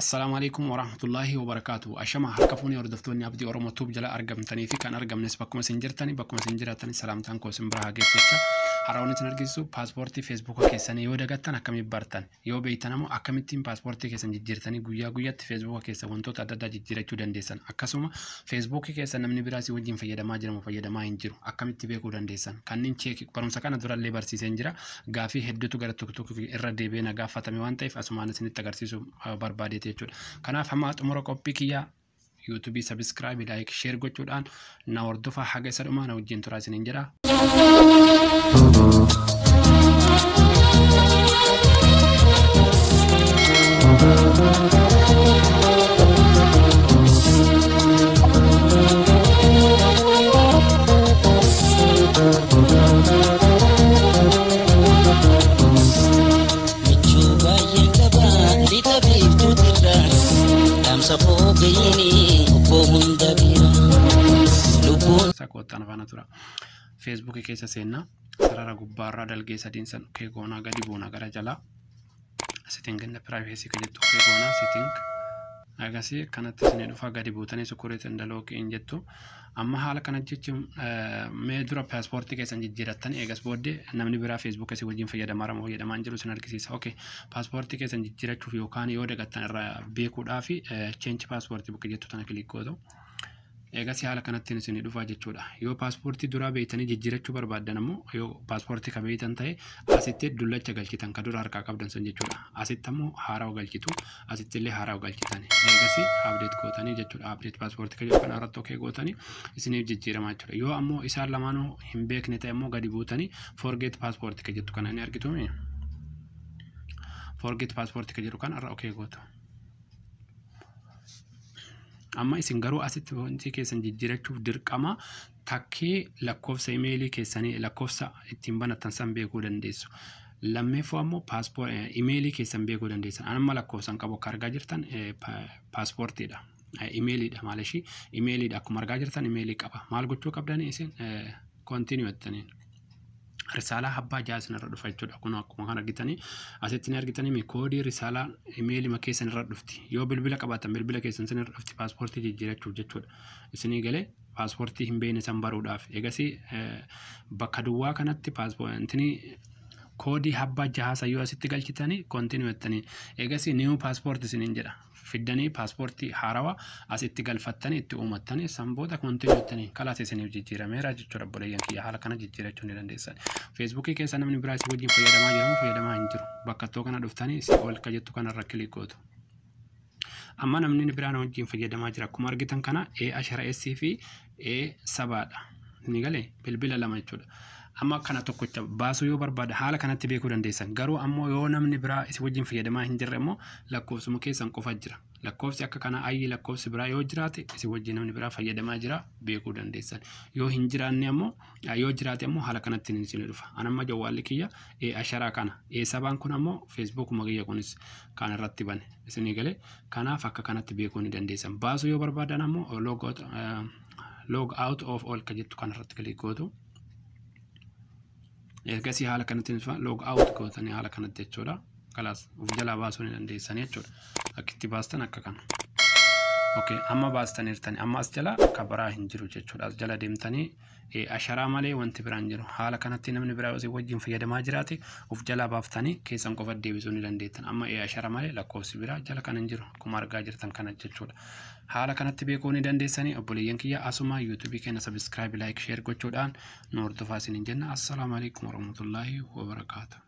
Assalaamu alaikum warahmatullaahi wabarakaatu. Ashama harka fuunee hordoftoonni abdii Oromoo tuub jala argamtanii fi kan argamnes bakkuma isin jirtanii bakkuma isin jiraatanii salaamtaan koo isin bira haa geessu jecha har'a wanti isin argisiisu paaspoortii feesbuuka keessanii yoo dagattan akkamitti bartan yoo beektan ammoo akkamittiin paaspoortii keessan jijjiirtanii guyyaa guyyaatti feesbuuka keessa wantoota adda addaa jijjiirachuu dandeessan akkasuma feesbuukii keessa namni biraa si wajjin fayyadamaa jiramu fayyadamaa hin jiru akkamitti beekuu dandeessan kanneen cheekii barumsa kana durallee barsiiseen jira gaafii hedduutu gara tokko tokko irra deebi'ee na gaafatame waan ta'eef asumaan isinitti agarsiisu barbaadeeti jechuudha. Kanaaf hamma xumura qophii kiyyaa yuutuubii sabiskiraabii laayik sheer gochuudhaan na hordofaa haga isa dhumaa na wajjin turaa isiniin jedha. Sakoottan faana tura. Feesbuukii keessa seenna. Sarara gubbaarraa dalgee sadiin san kee goonaa gadi buuna gara jalaa. setting in the privacy ka jettu okay goona setting agasii kanatti isin dhufa gadi buutanii security and lock in jettu amma haala kana jechuun mee dura paaspoortii keessan jijjiirattan eegas booddee namni biraa feesbuuk keessi wajjin fayyadamaa ramoo jedhamaan jiru isin argisiisa okay paaspoortii keessan jijjiirachuuf yookaan yoo dagattan irraa beekuudhaa fi cheenchi paaspoortii bakka jettu tana kilik gootu Eegasii haala kanattiin isinii dhufaa jechuudha. Yoo paaspoortii duraa beeytanii jijjiirachuu barbaaddan ammoo yoo paaspoortii ka beeytan ta'e asitti dullacha galchitan ka dura harkaa qabdan san jechuudha. Asitti ammoo haarawa galchitu asitti illee haarawa galchitan. Eegasii update gootanii jechuudha. Update paaspoortii ka jedhu kana irratti okay gootanii isiniif jijjiiramaa jechuudha. Yoo ammoo isaan lamaanuu hin beekne ta'e ammoo gadi buutanii forget paaspoortii ka jettu kana ni argituumi. Forget paaspoortii ka jedhu kana irra okay gootu. Amma isin garuu asitti foontii keessan jijjiirachuuf dirqama takkee lakkoofsa imeelii keessanii lakkoofsa ittiin banattan san beekuu dandeessu. Lammeeffoo ammoo imeelii keessan beekuu dandeessan. Amma lakkoofsan qabu akka argaa jirtan paaspoortiidha. Imeeliidha maal ishii imeeliidha akkuma argaa jirtan imeelii qaba. Maal gochuu qabdanii isin kontiinuu jettaniin. risaalaa abbaa ja'a isinirra dhufa jechuudha. Kun akkuma kan argitanii asitti ni argitanii koodii risaalaa imeelima keessan irra dhufti. Yoo bilbila qabaatan bilbila keessan isin irra dhufti paaspoortii jijjiirachuuf jechuudha. Isinii galee paaspoortii hin beekne san baruudhaaf. Egasii bakka duwwaa kanatti paaspoortii koodii abbaa jahaa sayyoo asitti galchitanii kontinuu jettanii. Egasii niiwu paaspoortii isiniin jedha. fiddanii paaspoortii haarawa as itti galfattanii itti uumattanii san booda kontinuu jettanii kalaas isiniif jijjiirameera jechuudha obboleeyyan kiyya haala kana jijjiirachuu ni dandeessan. Feesbuukii keessa namni biraa isin wajjin fayyadamaa jiramu fayyadamaa hin jiru. Bakka ittoo kana dhuftanii isin ol ka jettu kanarra kilik gootu. Amma namni biraan wajjin fayyadamaa jira. Akkuma argitan kana A ashara S fi A sabaadha. Ni galee bilbila lama jechuudha. Amma kana tokkocha baasuu yoo barbaada haala kanatti beekuu dandeessan. Garuu ammoo yoo namni biraa isin wajjin fayyadamaa hin jirre immoo lakkoofsuma keessan qofa jira. Lakkoofsi akka kanaa ayyi lakkoofsi biraa yoo jiraate isin wajjin namni biraa fayyadamaa jira beekuu dandeessan. Yoo hin jiraanne ammoo Yoo jiraate immoo haala kanatti ni isin dhufa. An amma jawwaalli kiyya asharaa kana. Sabaan kun ammoo feesbuukuma kiyya kunis kan irratti bane isinii galee. Kanaaf akka kanatti beekuu ni dandeessan. Baasuu yoo barbaadan ammoo log out of all ka jettu kan irratti kiliik gootu. Ergasii haala kanatti log out gootanii haala kanatti jechuudha. kalaas of jalaa baasuu ni dandeessanii jechuudha akka itti baastan akka kana okay amma baastaniirtani amma as jala ka biraa hin jiru jechuudha as jala deemtanii eh, asharaa malee wanti biraan jiru haala kanatti namni biraa osoo wajjin fayyadamaa jiraate of jalaa baaftanii keessan qofa deebisuu ni dandeettan amma eh, ashara malee lakkoofsi biraa jala kan hin jiru akkuma argaa jirtan kana jechuudha haala kanatti beekuu ni dandeessanii obboleeyyan kiyya asuma yuutuubii keenya sabiskiraayibi laayik sheer gochuudhaan nu hordofaa isiniin jenna assalaamu alaikum warahmatullaahi wabarakaatu